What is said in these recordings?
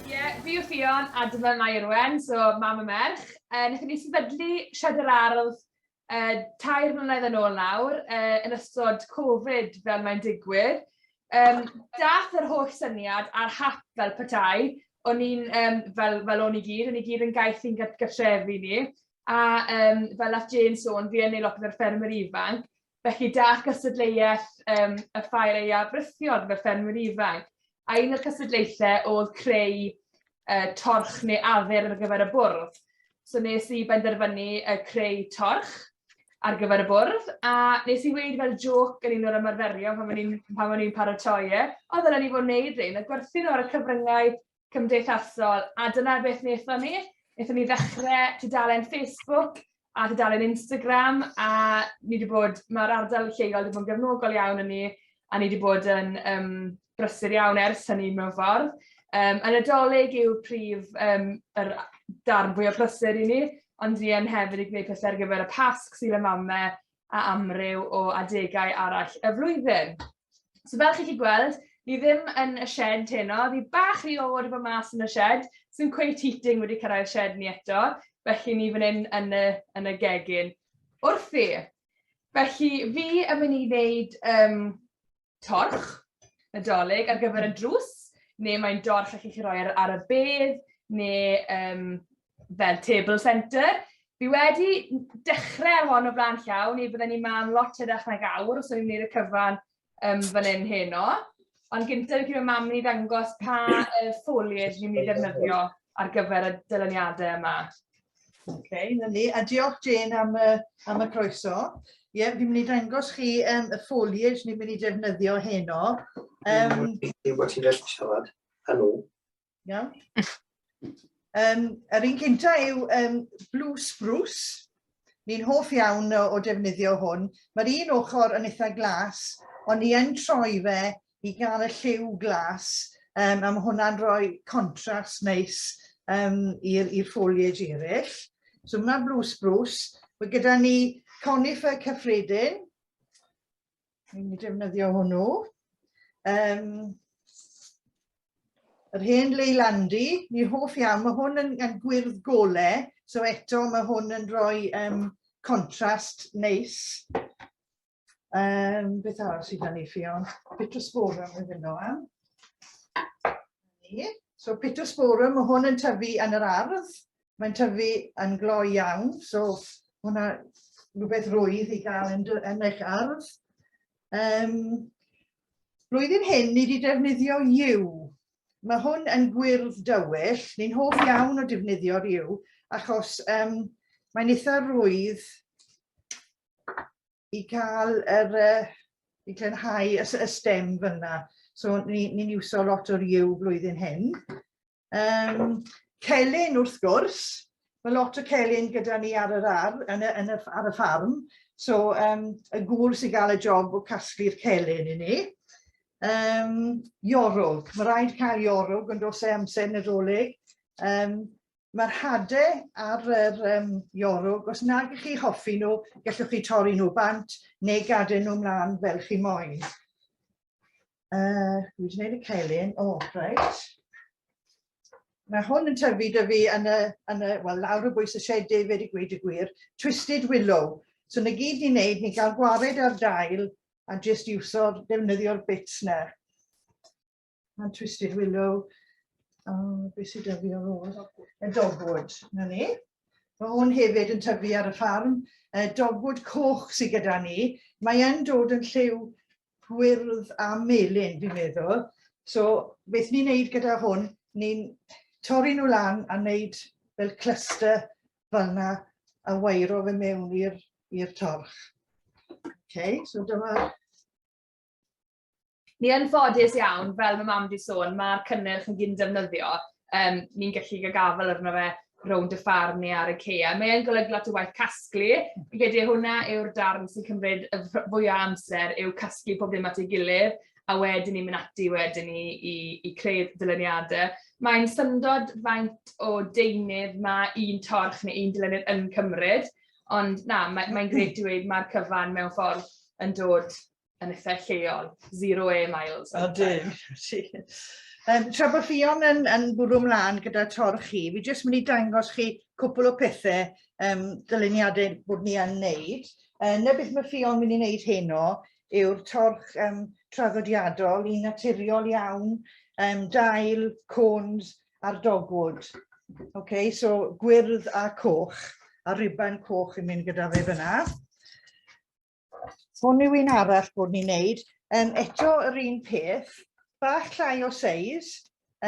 Ie, fi yw Ffion a dyma Mair Owen, so mam a merch. Wnaethon ni sefydlu Sied yr Ardd tair mlynedd yn ôl nawr, yn ystod Covid fel mae'n digwydd. Daeth yr holl syniad a'r hap fel petai, o'n i'n fel o'n i gyd, o'n i gyd yn gaeth i'n gartrefi ni, A um, fel nath Jane sôn, fi yn ei lot o'r ffermwyr ifanc, felly da cystadleuaeth um, y ffair ei afrythiol gyda'r ffermwyr ifanc. A un o'r cystadlaethau oedd creu uh, torch neu afer ar gyfer y bwrdd. So nes i benderfynu uh, creu torch ar gyfer y bwrdd, a nes i weid fel joc yn un o'r ymarferio pan o'n i'n paratoi e, oedd yna ni fod wneud rhain, a gwerthu nhw ar y cyfryngau cymdeithasol, a dyna beth wnaethon ni. Wnaethon ni ddechrau tudalen Facebook a tudalen Instagram, a ni wedi bod, mae'r ardal lleol wedi bod yn gefnogol iawn yn ni, a ni wedi bod yn um, brysur iawn ers hynny mewn ffordd. Um, yn y dolyg yw prif um, yr darn fwy o brysur i ni, ond ni yn hefyd i gwneud pethau ar gyfer y pasg sy'n y mamau, a amryw o adegau arall y flwyddyn. So fel chi'n chi gweld, ni ddim yn y shed heno, ni bach rhy oer i fod mas yn y shed, sy'n cweith heating wedi cyrraedd shed ni eto, felly ni fan hyn yn y, yn y gegin. Wrthi, felly fi yn mynd i wneud um, torch y dolyg ar gyfer y drws, neu mae'n dorch allwch chi roi ar, ar y bedd, neu um, fel table centre. Fi wedi dechrau ar hon o flaen llaw, neu byddwn ni'n mam lot edrych nag awr os o'n i'n gwneud y cyfan um, fan hyn heno. Ond gyntaf fi gyda mam ni ddangos pa uh, foliage ni'n mynd i ddefnyddio ar gyfer y dylyniadau yma. Oce, na ni. A diolch Jane am y, am y croeso. Ie, yeah, fi'n mynd i dangos chi um, y foliage ni'n mynd i defnyddio heno. Um, Dwi'n bod ti'n gallu siarad â nhw. Iawn. Um, yr un cynta yw um, Blue Spruce. Ni'n hoff iawn o, o defnyddio hwn. Mae'r un ochr yn eitha glas, ond ni yn troi fe i gael y lliw glas um, a mae hwnna'n rhoi contrast neis um, i'r foliage eraill. So mae hwnna'n blue spruce. Mae gyda ni conifer cyffredin. Ni'n mynd i defnyddio hwnnw. Um, yr hen leilandi, ni'n hoff iawn, mae hwn yn, yn gwyrdd gole, so eto mae hwn yn rhoi um, contrast neis. Um, beth arall sydd gan i Ffion? Pitosporum yn fynd o am. So pitosporum, mae hwn yn tyfu yn yr ardd. Mae'n tyfu yn gloi iawn, so hwnna rhywbeth rwydd i gael yn, yn eich ardd. Um, blwyddyn hyn, ni wedi defnyddio yw. Mae hwn yn gwyrdd dywyll. Ni'n hoff iawn o defnyddio'r yw, achos um, mae'n eitha rwydd i cael yr, uh, i glenhau y, y stem fyna. So ni'n ni, ni iwso lot o'r yw flwyddyn hyn. Um, celyn wrth gwrs, mae lot o celyn gyda ni ar yr ar, yn y, yn y, ar y ffarm. So um, y gŵr sy'n gael y job o casglu'r celyn i ni. Um, iorwg, mae rhaid cael iorwg yn dos e amser nadolig. Um, Mae'r hade ar yr um, iorwg, os nag ych chi hoffi nhw, gallwch chi torri nhw bant neu gadael nhw mlaen fel chi moyn. Uh, dwi wedi gwneud y celyn, o, oh, reit. Mae hwn yn tyfu dy fi yn y, yn y well, lawr y bwys y sied David i gweud y gwir, Twisted Willow. So na gyd ni'n neud, ni'n cael gwared ar dail a jyst iwso'r defnyddio'r bits na. Mae'n Twisted Willow. O, beth sydd dyfu ar ôl? Y dogwood, na ni. Mae hwn hefyd yn tyfu ar y ffarm. Y dogwood coch sydd gyda ni. Mae e'n dod yn lliw gwyrdd a melyn, fi'n meddwl. So, beth ni'n neud gyda hwn, ni'n torri nhw lan a wneud fel cluster fel yna a wairo fe mewn i'r torch. Okay, so dyma Ni yn ffodus iawn, fel mae mam wedi sôn, mae'r cynnyrch yn gyn defnyddio. Um, ni'n gallu gael gafel arno fe rownd y ffarm neu ar y ceia. Mae e'n golygu lot o waith casglu. Fi'n credu hwnna yw'r darn sy'n cymryd y fwyaf amser yw casglu pob dim at ei gilydd a wedyn ni'n mynd ati wedyn ni i, i creu dyluniadau. Mae'n syndod faint o deunydd mae un torch neu un dylenydd yn cymryd, ond na, mae'n mae, mae greu dweud mae'r cyfan mewn ffordd yn dod yn eitha lleol, zero air miles. O, dim. Um, tra bod Ffion yn, yn bwrw mlaen gyda tor chi, fi jyst mynd i dangos chi cwpl o pethau um, dyluniadau bod ni yn wneud. Uh, na beth mae Ffion mynd i wneud heno yw'r torch um, traddodiadol i naturiol iawn, um, dail, cones a'r dogwood. Okay, so gwyrdd a coch, a riban coch yn mynd gyda fe fyna. Hwn yw un arall bod ni'n neud. Um, eto yr un peth, bach llai o seis,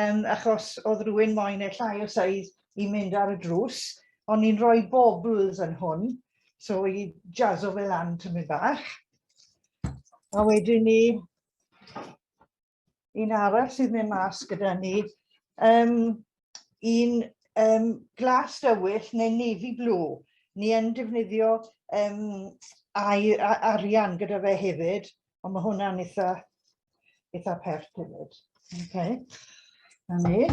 um, achos oedd rhywun moyn e llai o seis i mynd ar y drws, ond ni'n rhoi bobls yn hwn, so i jazzo fe lan tymyn bach. A wedyn ni un arall sydd mynd mas gyda ni. Um, un um, glas dywyll neu navy blue. Ni yn defnyddio um, ai, arian gyda fe hefyd, ond mae hwnna'n eitha, eitha pert hefyd. Okay. Na ni.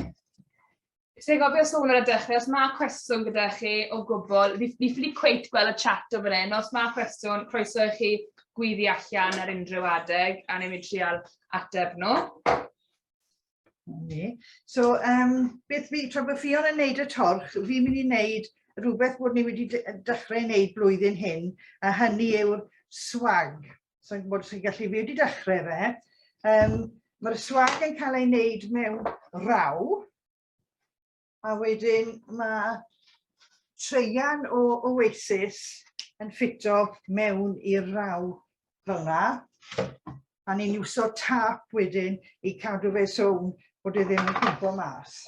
Ti'n gofio sôn ar y dechrau, os mae cwestiwn gyda chi o gwbl, fi, fi ffili cweit gweld y chat o fan hyn, os mae cwestiwn, croeso i chi gwyddi allan ar unrhyw adeg, a ni'n mynd trial ateb nhw. Okay. So, um, beth fi, tra bod Ffion yn neud y torch, fi'n mynd i wneud rhywbeth bod ni wedi dechrau wneud blwyddyn hyn, a hynny yw'r swag. So i'n gwybod os chi'n gallu, fi wedi dechrau fe. Um, Mae'r swag yn cael ei wneud mewn raw, a wedyn mae treian o Oasis yn ffito mewn i'r raw fel yna, a ni'n iwso tap wedyn i cadw fe swn bod e ddim yn cwmpo mas.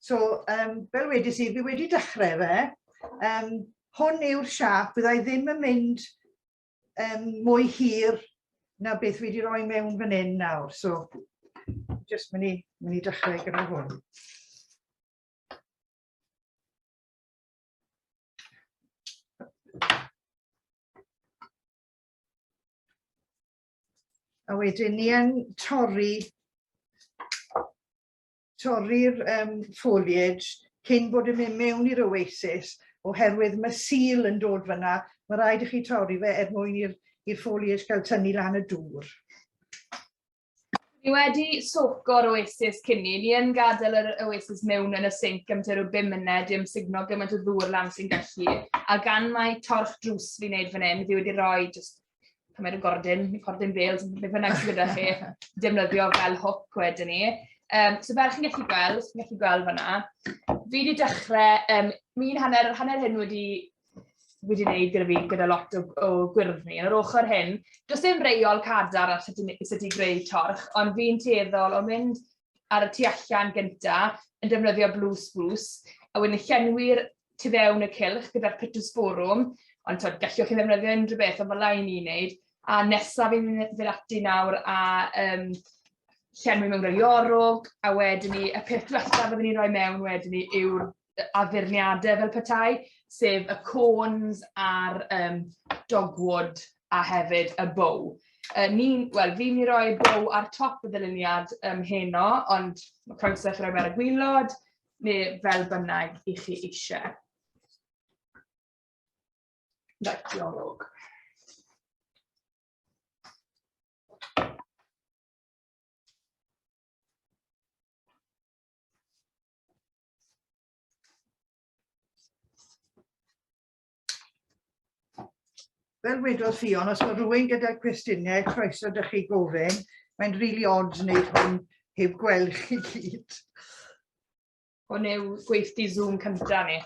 So, um, fel wedys i, fi wedi dechrau fe. Um, hwn yw'r siap, byddai ddim yn mynd um, mwy hir na beth wedi rhoi mewn fan hyn nawr. So, just mynd i, mynd i dechrau gyda hwn. A wedyn ni yn torri torri'r um, foliage cyn bod yn mynd mewn i'r oasis, oherwydd mae sil yn dod fyna, mae rhaid i chi torri fe er mwyn i'r foliage gael tynnu lan y dŵr. Ni wedi soco'r oasis cynni, ni yn gadael yr oasis mewn yn y sinc am tua rhyw 5 munud i ymsugno gymaint o ddŵr lan sy'n gallu, a gan mae torch drws fi'n neud fan hyn, fi wedi rhoi just pan mae'n gordyn, cordyn fel, beth bynnag sydd gyda chi, defnyddio fel hook wedyn ni. Um, so fel chi'n gallu gweld, chi'n gallu gweld fanna, fi wedi dechrau, um, mi'n hanner, hanner hyn wedi wedi wneud gyda fi, gyda lot o, o gwyrdd ni. Yr ochr hyn, does dim reol cadar ar sut i, sut i greu torch, ond fi'n teddol o mynd ar y tu allan gynta yn defnyddio blue spruce, a wedyn llenwi'r tu fewn y cilch gyda'r pittosporum, ond tyd, gallwch chi ddefnyddio unrhyw beth, ond fel lai ni'n neud. A nesaf fi'n mynd ati nawr a um, llenwi mewn rhai orwg, a wedyn ni, y peth diwethaf byddwn ni'n rhoi mewn wedyn ni yw'r addurniadau fel petai, sef y cones a'r um, dogwood a hefyd y bow. Uh, ni, wel, fi'n mynd i roi bow ar top y ddyluniad um, heno, ond mae croeso chi roi fe ar y gwylod, neu fel bynnag i chi eisiau. Right, diolch. fel wedodd Ffion, os mae rhywun gyda cwestiynau, croeso dych chi gofyn. Mae'n rili really odd wneud hwn heb gweld chi gyd. Hwn yw gweithdi Zoom cyntaf ni.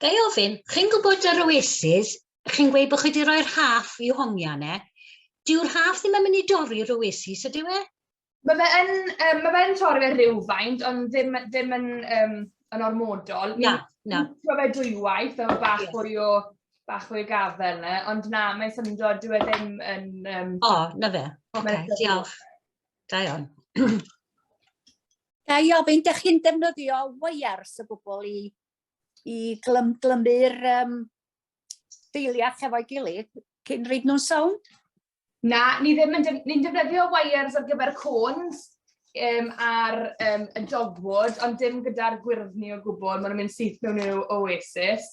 Ga i ofyn, chi'n gwybod yr Oasis, chi'n gweud bod chi wedi rhoi'r haff i'w homiau yna. Dyw'r haff ddim yn mynd i dorri'r Oasis, ydyw e? Mae fe yn, um, mae fe yn torri fe rhywfaint, ond ddim, ddim yn, um, yn ormodol. Na, na. Mae fe dwywaith, efo bach yeah. fwy o bach fwy o gafel yna, ond na, mae'n syndod, dwi e ddim yn... Um, o, oh, na fe. Oce, okay, diolch. Da iawn. Ga i ofyn, dych chi'n defnyddio wires o gwbl i, i glym, glymu'r um, deiliach efo'i gilydd cyn rhaid nhw'n sownd? Na, ni ddim yn ni defnyddio wires ar gyfer cones um, ar um, y dogwood, ond dim gyda'r gwyrddni o gwbl. Maen nhw'n mynd syth mewn i'w oasis.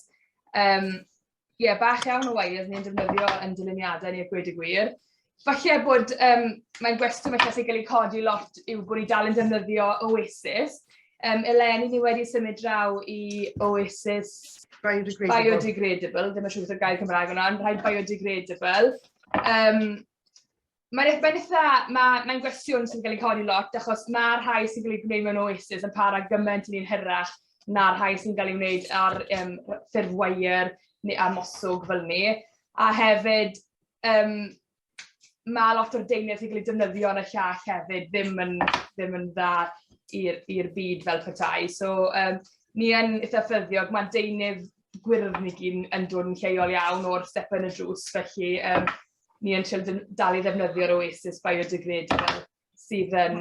Um, ie, bach iawn o waith ni'n defnyddio yn dyluniadau ni a gwed y gwir. Falle bod, um, mae'n gwestiwn falle sy'n cael ei codi lot yw bod ni dal yn defnyddio Oasis. Um, eleni ni wedi symud draw i Oasis biodegradable, biodegradable. ddim yn siŵr beth y gair Cymraeg yna, ond rhaid biodegradable. Um, Mae'r eich benefitha, mae'n mae gwestiwn sy'n cael ei codi lot, achos mae'r rhai sy'n cael ei gwneud mewn oasis yn para gymaint yn un hyrach na'r rhai sy'n cael ei wneud ar um, ffurf wair neu ar moswg fel ni. A hefyd, um, mae lot o'r deunydd sy'n cael ei defnyddio yn y llall hefyd ddim yn, ddim yn dda i'r byd fel petai. So, um, ni yn eitha ffyddiog, mae'n deunydd gwyrdd ni gyn yn dod yn lleol iawn o'r step yn y drws, felly um, ni yn trio dal i ddefnyddio'r Oasis biodegrade fel sydd yn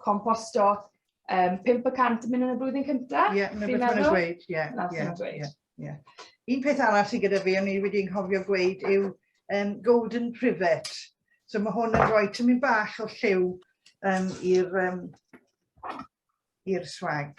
composto um, 500 mynd yn y blwyddyn cyntaf. Ie, mae'n beth mae'n gweud. Ie, ie, ie. Un peth arall sydd gyda fi, o'n i wedi nghofio gweud, yw um, Golden Privet. So mae hwn yn rhoi tymyn bach o lliw um, i'r um, i'r swag.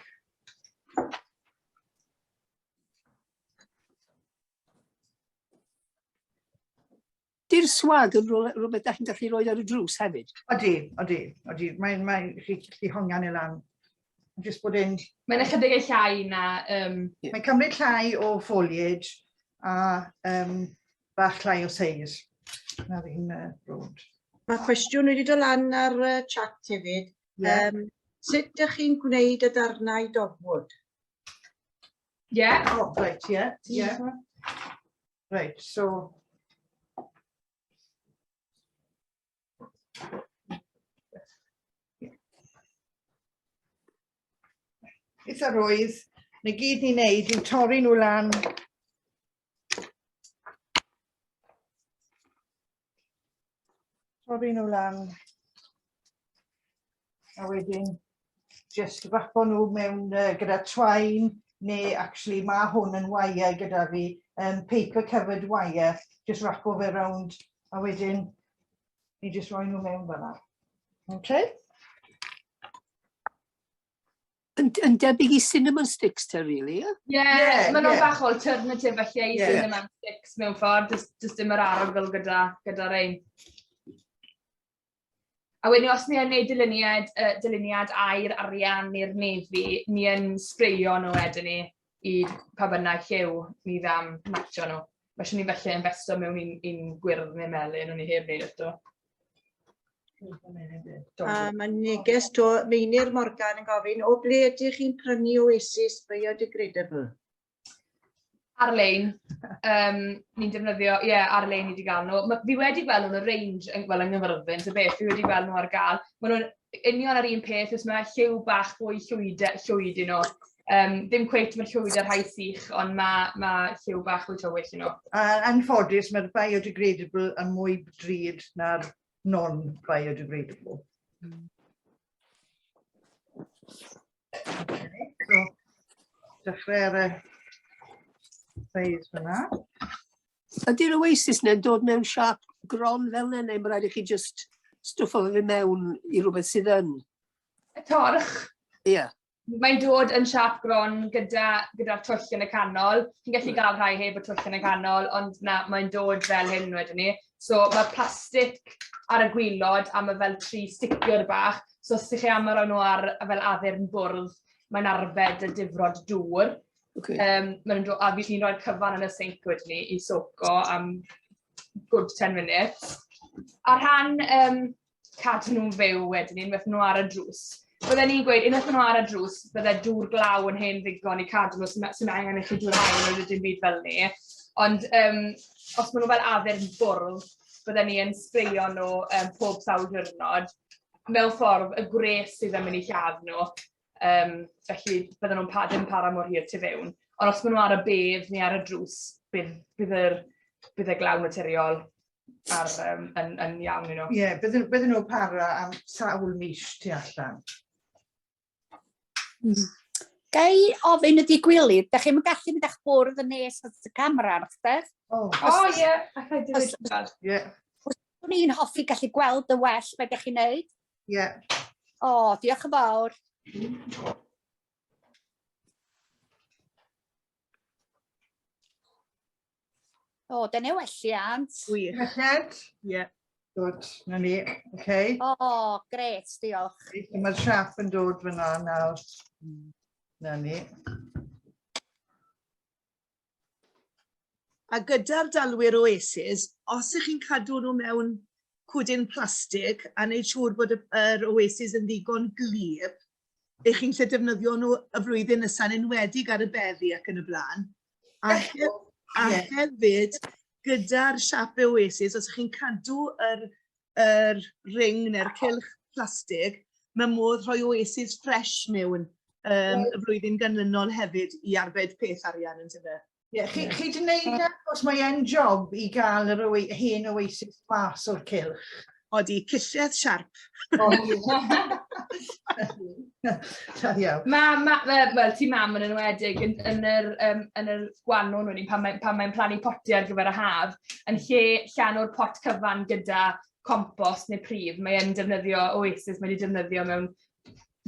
Di'r swag yn rhywbeth da chi'n gallu rhoi ar y drws hefyd? Odi, odi, odi. Mae'n mae, chi gallu hongian ei lan. Just bod e'n... Mae'n ychydig ei llai na... Um... Yeah. Mae'n cymryd llai o foliage a um, bach llai o seis. Na fi'n uh, brod. Mae cwestiwn wedi dod lan ar uh, chat hefyd. Yeah. Um, sut ydych chi'n gwneud y darnau dogwood? Yeah. Oh, right, yeah, yeah. Right, so... Beth yr oedd, na gyd ni'n neud yw torri nhw lan Torri nhw lan. A wedyn, just rapo nhw mewn uh, gyda twain, neu actually mae hwn yn wire gyda fi, um, paper covered wire, just rapo fe round, a wedyn, ni just roi nhw mewn fanna. Okay? Yn, yn debyg i cinnamon sticks te, really, ie? Ie, yeah, maen nhw'n bach o alternative felly i cinnamon sticks mewn ffordd, jyst dim yr arogl gyda, gyda rein. A wedyn os ni yn gwneud dyluniad, uh, dyluniad air arian i'r nefi, ni yn sbreio nhw wedyn ni. i pa bynnag lliw ni dda am matcho nhw. Felly ni'n gallu investo mewn un, un gwyrdd neu melyn, o'n i heb wneud eto. A mae neges to Meinir Morgan yn gofyn, o ble ydych chi'n prynu Oasis Biodegradable? Ar-lein, um, ni'n defnyddio, ie, yeah, ar-lein i wedi gael nhw. Ma, fi wedi gweld nhw'n y range, yn, well, yng Nghyfyrddin, so beth, fi wedi gweld nhw ar gael. Maen nhw'n union ar un peth, os mae lliw bach fwy llwyd, llwyd un o. Um, ddim cweit mae'r llwyd ar rhai sych, ond mae, mae lliw bach fwy tywyll un o. A anffodus, mae'r biodegradable yn mwy drud na'r non-biodegradable. Mm. Okay, so, dechrau ar y size fyna. Ydy'r oasis neu'n dod mewn siap gron fel yna, neu mae rhaid i chi just stwff o fe mewn i rhywbeth sydd yn? Y torch. Ie. Yeah. Mae'n dod yn siap gron gyda'r gyda twll yn y canol. Chi'n gallu gael rhai heb y twll yn y canol, ond na, mae'n dod fel hyn wedyn ni. So mae plastic ar y gwylod a mae fel tri sticio'r bach. So os ydych chi am roi nhw ar fel addurn bwrdd, mae'n arbed y difrod dŵr. Okay. Um, maen nhw'n dod, a fi'n rhoi'r cyfan yn y sink wedyn ni i soco am good 10 minutes. A rhan um, cadw nhw'n fyw wedyn ni, unwaith nhw ar y drws. Bydden ni'n gweud, unwaith nhw ar y drws, bydde dŵr glaw yn hen ddigon i cadw nhw sy'n angen i chi dŵr hael yn ydyn byd fel ni. Ond um, os maen nhw fel addurn bwrdd, bydden ni yn sbreio nhw um, pob sawl diwrnod mewn ffordd y gwres sydd yn mynd i lladd nhw. Um, felly, bydden nhw'n pa, ddim para mor hir tu fewn. Ond os maen nhw ar y bedd neu ar y drws, bydd, bydd, yr, bydd y glaw materiol ar, um, yn, yn iawn nhw. Ie, yeah, bydden, bydden nhw'n para am sawl mis tu allan. Mm. Gai ofyn ydi gwilydd, da chi'n gallu mynd a'ch bwrdd yn nes at y camera ar eich deg? O, ie, allai dweud. Ie. Os ydw i'n hoffi gallu gweld y well beth ydych chi'n neud, Ie. O, diolch yn fawr. O, da ni welliant. Gwych. Melled? Ie. Good, na ni. Okay. O, gret, diolch. Mae'r siap yn dod fyna nawr. Na ni. A gyda'r dalwyr Oasis, os ych chi'n cadw nhw mewn cwdyn plastig a wneud siŵr bod yr Oasis yn ddigon glir i chi'n lle defnyddio nhw y flwyddyn nesaf, yn enwedig ar y beddi ac yn y blaen. A, he a hefyd, gyda'r siape Oasis, os ych chi'n cadw yr yr ring neu'r cylch plastig, mae modd rhoi oasis ffres mewn um, y flwyddyn ganlynol hefyd i arbed peth arian yn tyfu. Ie, yeah, chi, chi di wneud e, os mae e'n job i gael yr oe, hen oasis mas o'r cylch. Odi, cilledd siarp. Da iawn. Mam, ma, wel, ti mam yn enwedig, yn, yn, yr, um, yn yr gwanwn wedyn, pan mae'n pan mae plannu potiau ar gyfer y haf, yn lle llan o'r pot cyfan gyda compost neu prif, mae'n defnyddio oasis, mae wedi defnyddio mewn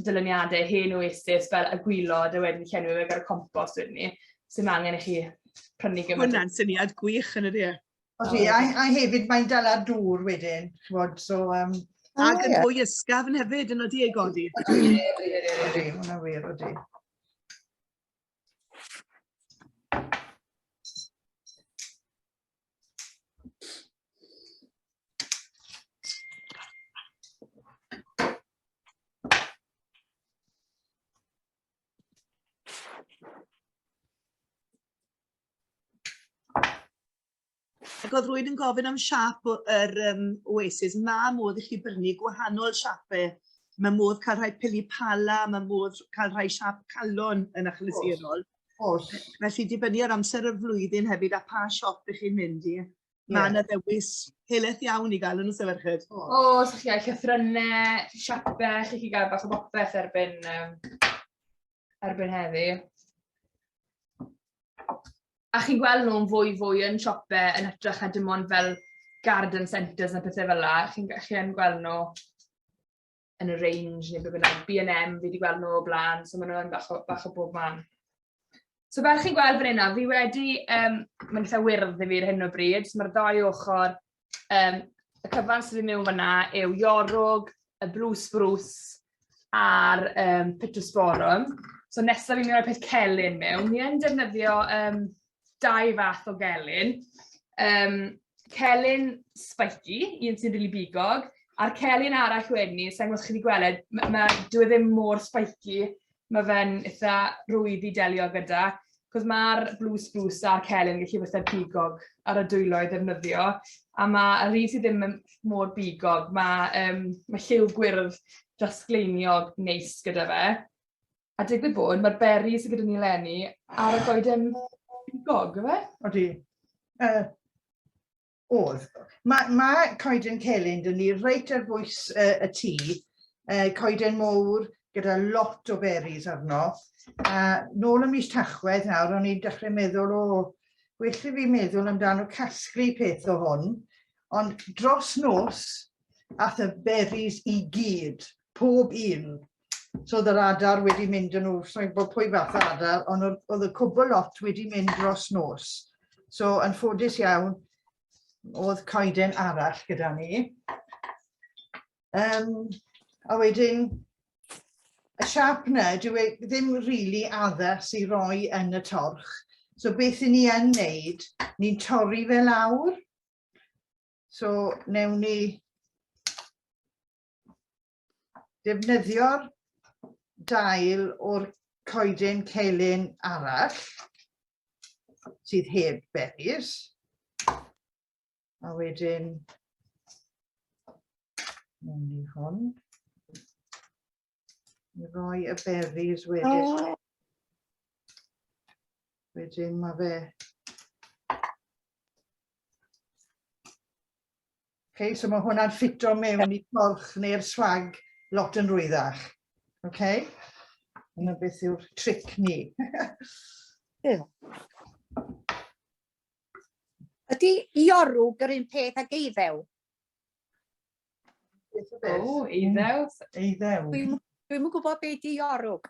dylyniadau hen oasis fel y gwylod a wedyn llenwi fe gyda'r compost wedyn ni. Sy'n angen i chi prynu gymaint. Hwna'n syniad gwych yn ydy e? O, ti, a, a hefyd mae'n dal ar dŵr wedyn, chwod, so... Um, oh, ac yn yeah. fwy ysgafn hefyd, yn oeddi ei godi. Odi, odi, odi, hwnna wir, odi. Ac oedd rwy'n yn gofyn am siap yr um, Oasis. Mae modd i chi brynu gwahanol siapau. Mae modd cael rhai pili pala, mae modd cael rhai siap calon yn achlysurol. Oes. Felly dibynnu ar amser y flwyddyn hefyd a pa siop ych chi'n mynd i. Mae yna ddewis heleth iawn i gael yn y sefyllfyd. O, sa'ch chi gael llythrynau, siapau, chi chi gael bach o bopeth erbyn um, erbyn heddi. A chi'n gweld nhw'n fwy fwy yn siope yn hytrach na dim ond fel garden centres a pethau fel la. Chi'n chi yn gweld nhw yn y range neu beth bynnag. B&M fi wedi gweld nhw o blaen, so maen nhw'n bach o, bach o bob man. So fel chi'n gweld fan hynna, fi wedi, um, mae'n eitha wyrdd i fi ar hyn o bryd, so mae'r ddau ochr Um, y cyfan sydd yn mewn fyna yw Iorwg, y Blue Spruce a'r um, Pittosporum. So nesaf fi'n mynd i'r peth celyn mewn. Ni yn defnyddio um, dau fath o gelyn. Um, celyn spiky, un sy'n rili really bigog, a'r celyn arall wedyn ni, sa'n gwybod chi wedi gweld, mae ma, dwi e ddim mor spiky, Mae fe'n eitha rwydd i delio gyda, cos mae'r blue spruce a'r celyn yn gallu bod pigog ar y dwylo i ddefnyddio, a mae yr un sydd ddim mor bigog, mae, um, mae lliw gwyrdd drasgleiniog neis gyda fe. A digwydd bod, mae'r beri sydd gyda ni lenni ar y goeden bigog, yfe? Odi. Uh, Oedd. Mae, mae coeden celyn dyn ni reit ar bwys uh, y tŷ, uh, coeden mowr gyda lot o berries arno. A uh, nôl y mis tachwedd nawr, o'n i'n dechrau meddwl, o, oh, well i fi meddwl amdano casglu peth o hwn, ond dros nos, ath y berries i gyd, pob un. So oedd yr adar wedi mynd yn nhw, sa'n gwybod pwy fath o adar, ond oedd y cwbl lot wedi mynd dros nos. So yn ffodus iawn, oedd coeden arall gyda ni. Um, a wedyn, y siap na, dwi e ddim rili really addas i roi yn y torch. So beth i ni yn neud, ni'n torri fe lawr. So newn ni defnyddio'r dail o'r coeden celyn arall sydd heb berries. A wedyn, mewn i hwn, i roi y berries wedyn. Oh. Wedyn mae fe Okay, so mae hwnna'n ffito mewn i torch neu'r swag lot yn rwyddach. Okay? Dyna beth yw'r tric ni. yeah. Ydy iorw gyr un peth ag eiddew? O, eiddew. Eiddew. Dwi'n dwi gwybod beth di iorwg.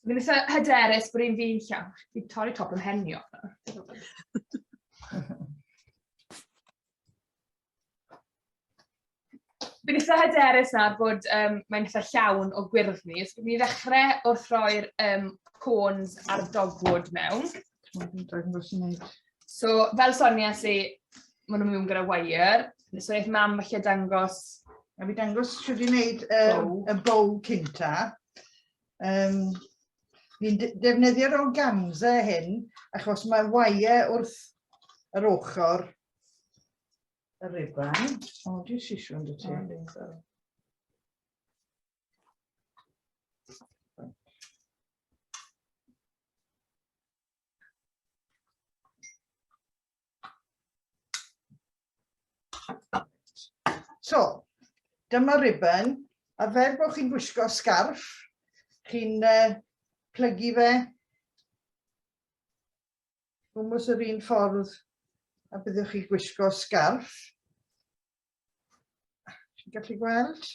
Fi'n eitha hyderus bod un fi'n llawn. Fi'n torri top yn henio. Fi'n eitha hyderus na bod um, mae'n eitha llawn o gwyrdd ni. So, fi'n ddechrau wrth roi'r um, cones a'r dogwood mewn. Dwi'n dweud yn gwrs i wneud. So, fel Sonia, lle maen nhw'n mynd gyda wire, so eith mam falle dangos... A fi dangos sydd wedi gwneud um, y bow cynta. Um, Fi'n defnyddio'r organza hyn, achos mae wire wrth yr ochr y rifan. O, di sisiwn dy ti. So, dyma ribbon, a fer bod chi'n gwisgo scarf, chi'n uh, plygu fe gwmwys yr un ffordd a byddwch chi'n gwisgo sgarf. Chi'n gallu gweld?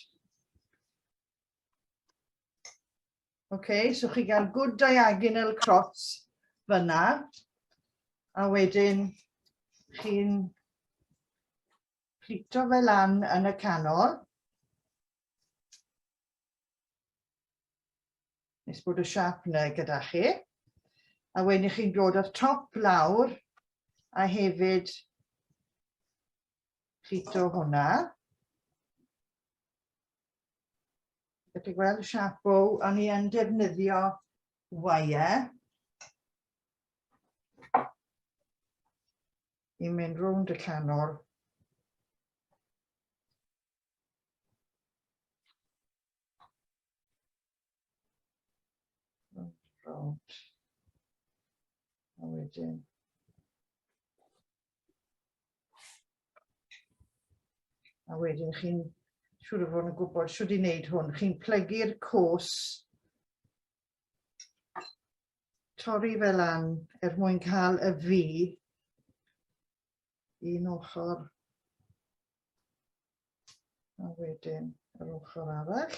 Okay, so chi gael good diagonal cross fyna. A wedyn chi'n plito fe lan yn y canol. Nes bod y siap yna gyda chi. A wedyn chi'n dod o'r top lawr a hefyd plito hwnna. Dych chi'n gweld y siap bow, o'n i yn defnyddio wire i mynd rownd y canol rownd. A wedyn A wedyn chi'n siŵr o fod yn gwybod siwr i wneud hwn. Chi'n plygu'r cwrs torri fel an er mwyn cael y fi un ochr a wedyn yr ochr arall.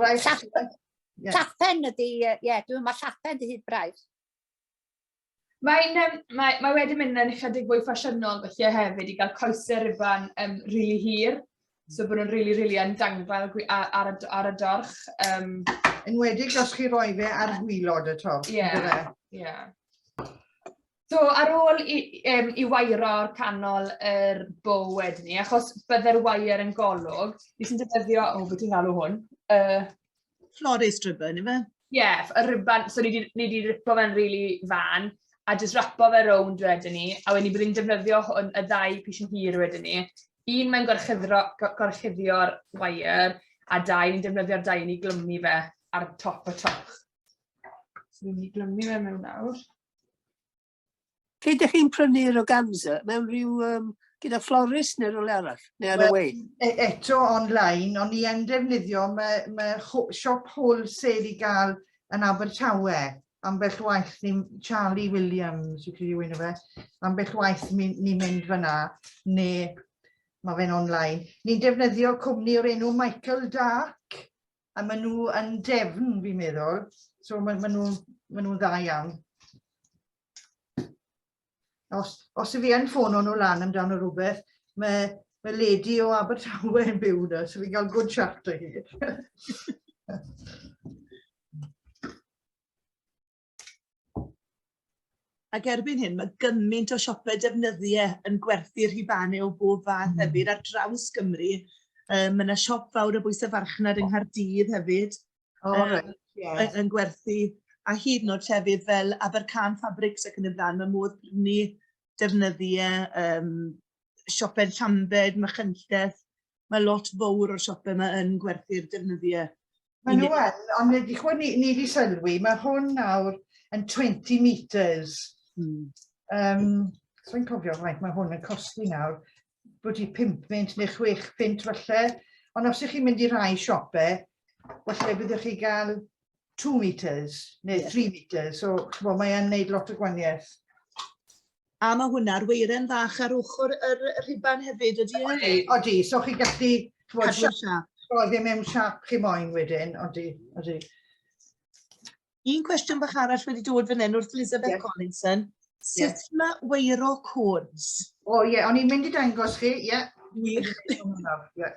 Wel, llapen, yeah. llapen ydy, ie, uh, yeah, dwi'n meddwl llapen dy hyd braidd. Mae'n um, mae, mae wedi mynd yn ychydig fwy ffasiynol felly hefyd i gael coesau rifan um, rili really hir. So bod nhw'n rili, really, rili really yn dangfel ar, ar, ar y dorch. Um, yn wedi os chi roi fe ar hwylod y torch. Ie, yeah, ie. Yeah. So, ar ôl i, um, i wairo canol yr bow wedyn ni, achos bydde'r wair yn golwg, fi sy'n defnyddio, o, oh, beth i'n galw hwn? Uh, Flores dribbon, ife? Ie, yeah, y ribban, so ni wedi ripo fe'n rili really fan, a jyst rapo fe rownd wedyn ni, a wedyn ni byddwn defnyddio hwn, y ddau pis yn hir wedyn ni. Un mae'n gorchuddio'r wair, a dau ni'n defnyddio'r dau i ni glymu fe ar top y toch. So ni'n mynd i glymu fe mewn nawr. Lle ydych chi'n prynu'r organza? Mewn rhyw, um, gyda florist neu rhywle arall? Neu ar y wei? E, eto online, ond ni yn defnyddio, mae, mae siop wholesale i gael yn Abertawe. Ambell waith ni, Charlie Williams, fi'n credu yw'n fe, ambell waith ni'n ni mynd fyna, neu mae fe'n online. Ni'n defnyddio cwmni o'r enw Michael Dark, a maen nhw yn defn, fi'n meddwl. So maen ma nhw'n ma nhw dda iawn. Os, os y fi yn ffôn o'n nhw lan amdano rhywbeth, mae, mae lady o Abertawe yn byw na, so fi'n cael good chat o hi. Ac erbyn hyn, mae gymaint o siopau defnyddiau yn gwerthu rhubanau o bob fath mm. hefyd ar draws Gymru. Um, mae yna siop fawr o bwysau farchnad yng Nghaerdydd hefyd oh, um, right. yeah. yn, yn gwerthu. A hyd yn oed llefydd fel Abercan Fabrics ac yn y blaen, mae modd prynu defnyddiau um, siopau Llambed, Machynlleth. Mae lot fawr o'r siopau yma yn gwerthu'r defnyddiau. Mae nhw yn, ond nid i chwyd ni, ni wedi sylwi, mae hwn nawr yn 20 metres. Mm. Um, so i'n cofio faint mae hwn yn costi nawr, bod i 5 fynt neu 6 fynt falle, ond os ydych chi'n mynd i rai siopau, falle byddwch chi gael 2 metres neu 3 metres, so chbo, mae'n gwneud lot o gwaniaeth. A mae hwnna'r weiren fach ar ochr yr rhuban hefyd, ydy e? Odi, odi. So chi'n gallu... Casio'r siap. Rhoi e mewn siap chi moyn wedyn, odi, odi. Un cwestiwn bach arall wedi dod fan hyn wrth Elizabeth yeah. Collinson. Sut yeah. mae weiro cones? O ie, yeah, o'n i'n mynd i dangos chi, ie. Yeah. Wych. yeah.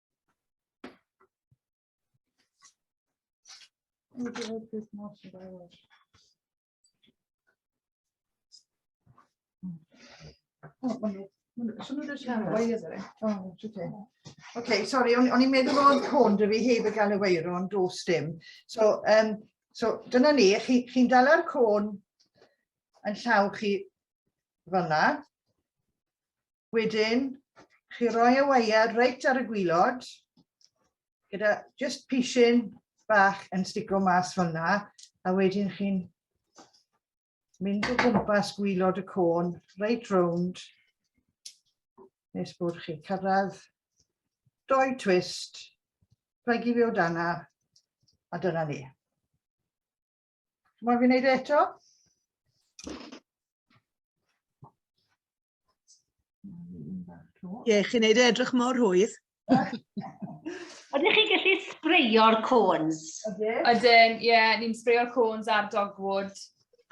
Okay, sorry, o'n i'n meddwl bod hwn dwi fi heb y gael ei weiro, ond dos dim. So, um, so dyna ni, chi'n chi, chi dala'r côn yn llaw chi fyna, Wedyn, chi roi y wire reit ar y gwylod, gyda just pishin bach yn stico mas fel yna, a wedyn chi'n mynd o gwmpas gwylod y côn, reit rownd, nes bod chi cyrraedd doi twist, plygu fi o dana, a dyna ni. Mae'n fi wneud e eto? Ie, chi'n neud e edrych mor hwydd. Ydych chi'n gallu spreio'r cones? Ydyn, ie, yeah, ni'n spreio'r cones ar dogwood,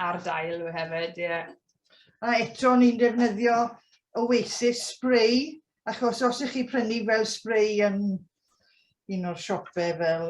ar dail yw e hefyd, ie. Yeah. A eto ni'n defnyddio Oasis spray, achos os ych chi prynu fel spray yn un o'r siopau fel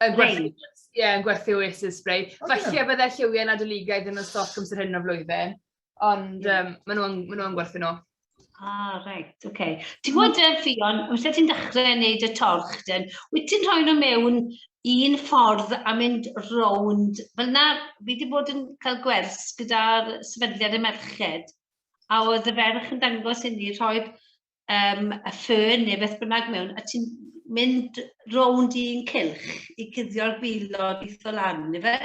Yn gwerthu, ie, yn gwerthu Oasis spray. Felly bydde lliwiau nadoligaidd yn y stoc amser hyn o flwyddyn, ond um, maen nhw'n ma nhw gwerthu nhw. Ah, reit, oce. Okay. Ti'n gwybod, uh, Fion, wrth e ti'n dechrau wneud y torch, dyn, wyt ti'n rhoi nhw mewn un ffordd a mynd rownd, fel na, fi wedi bod yn cael gwers gyda'r sefydliad y merched, a oedd y ferch yn dangos i ni rhoi um, a ffyrn neu beth bynnag mewn, a ti'n mynd rownd i'n cylch i cuddio'r gwylod i o lan, neu fe?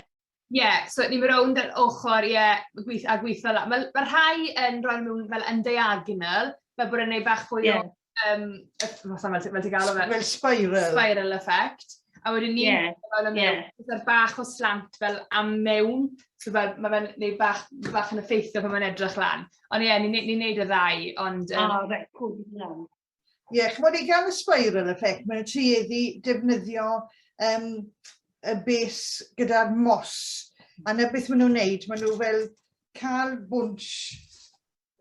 Ie, yeah, so ni'n mynd rownd yr ochr, ie, yeah, gweith, a gweithio lan. Mae ma rhai yn rhoi nhw'n fel yn diagonal, fel bod yn ei fach fwy yeah. o, um, fel, fel, fel ti'n gael o fe? Fel spiral. Spiral effect. A wedyn ni'n yeah. fel yn yeah. mewn, bach o slant fel am mewn, so fel, mae fe'n neud bach, bach yn effeithio pan mae'n edrych lan. Ond ie, ni'n ni neud y ddau, ond... Um... Ah, reit, cwrdd yn iawn. Ie, yeah, chymod i gael y spiral effect, mae'n tueddu defnyddio um, y bes gyda'r mos. A na beth maen nhw'n neud, maen nhw fel cael bwnt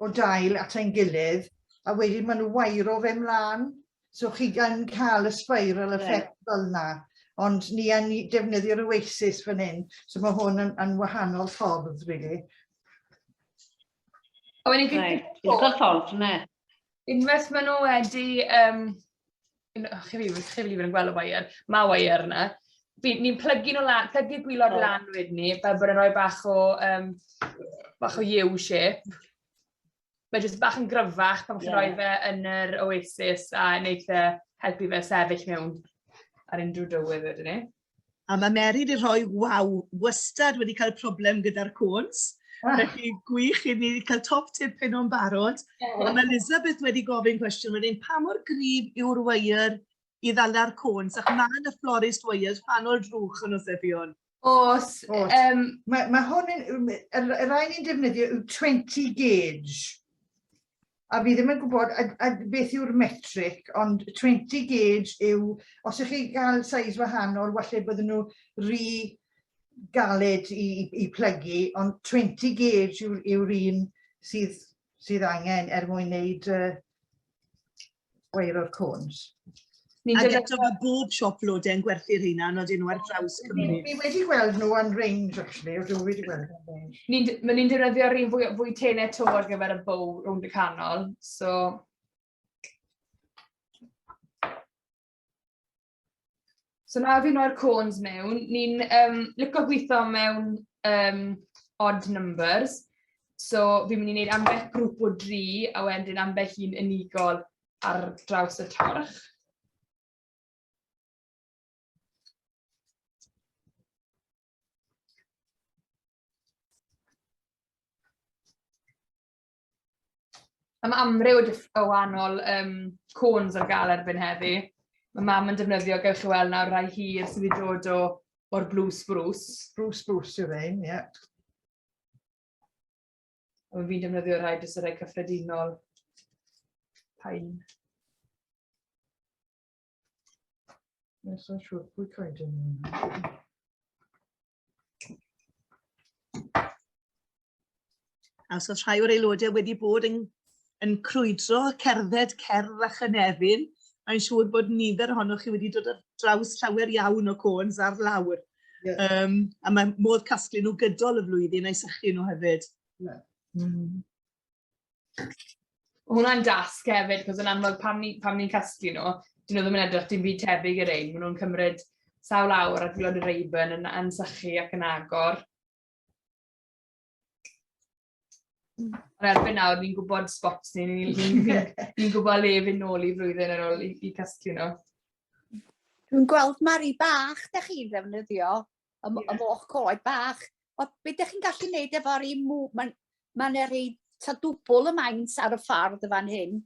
o dail at ein gilydd, a wedyn maen nhw wairo fe mlaen So chi gan cael y spiral effect yeah. fel yna, ond ni yn defnyddio'r oasis fan hyn, so mae hwn yn, yn wahanol ffordd, really. A wedyn fi'n... Right. Little ffordd, ne? Unwaith maen nhw wedi... Um, chi fi, chi fi yn gweld y wair, mae wair yna. Ni'n plygu nhw lan, plygu gwylod oh. lan wedyn ni, fel bod yn rhoi bach o, um, bach o U shape. mae jyst bach yn gryfach pan chi'n yeah. rhoi fe yn yr oasis a wneud fe helpu fe sefyll mewn ar unrhyw dywydd wedyn ni. A mae Mary wedi rhoi, waw, wastad wedi cael problem gyda'r cwns. Ah. Felly gwych i ni cael top tip hyn o'n barod. Yeah. A mae Elizabeth wedi gofyn cwestiwn wedyn, pa mor grif yw'r wair i ddala'r cwns, ac mae yn y florist wires pan o'r drwch yn osebion. Os, Os. Um, mae, mae hwn yn, y rai ni'n defnyddio yw 20 gauge. A fi ddim yn gwybod a, a beth yw'r metric, ond 20 gauge yw, os ych chi gael size wahanol, falle bydden nhw rhy galed i, i, i plygu, ond 20 gauge yw'r yw un sydd sydd angen er mwyn wneud uh, wair o'r cwns. Ni'n Ac eto mae bob siop lodau yn gwerthu'r rheina, nod nhw ar draws Cymru. Ni wedi gweld nhw yn range, actually, o dwi wedi gweld nhw yn range. Ni'n ni defnyddio'r rhywun fwy, fwy tenau to ar gyfer y bow rownd y canol, so... So nawr fi mo'r cones mewn, ni'n um, licio gweithio mewn um, odd numbers. So fi'n mynd i wneud ambell grŵp o dri a wedyn ambell un unigol ar draws y torch. Mae amryw o wahanol um, cones ar gael erbyn heddi. Mae mam yn defnyddio, gewch chi weld nawr, rai hir sydd wedi dod o, o'r Blue Spruce. Blue Spruce yw'r ein, ie. Yeah. Ond fi'n defnyddio rai jyst y rai cyffredinol. Pain. Nes o'n siŵr pwy coed yn hwnna. A os oes rhai o'r aelodau wedi bod yn, yn crwydro, cerdded, cerdd a chynefin, mae'n siŵr bod nifer ohonoch chi wedi dod ar draws llawer iawn o cons ar lawr. Yeah. Um, a mae modd casglu nhw gydol y flwyddyn a'i sychu nhw hefyd. Yeah. Mm. Hwna'n dasg hefyd, cos yn amlwg pam ni'n pam ni casglu nhw, dyn nhw ddim yn edrych dim byd tebyg i'r ein, maen nhw'n cymryd sawl awr a dilod y reibyn yn ansychu ac yn agor. Mm. Ond erbyn nawr, ni'n gwybod spots ni, ni'n ni, ni, ni gwybod le fy nôl i flwyddyn ar ôl i, i casglu nhw. Dwi'n gweld mari bach da chi'n ddefnyddio y, yeah. y moch coed bach. O, be ydych chi'n gallu gwneud efo'r un mw... Mae'n ma yna rei ta dwbl y maint ar y ffordd y fan hyn.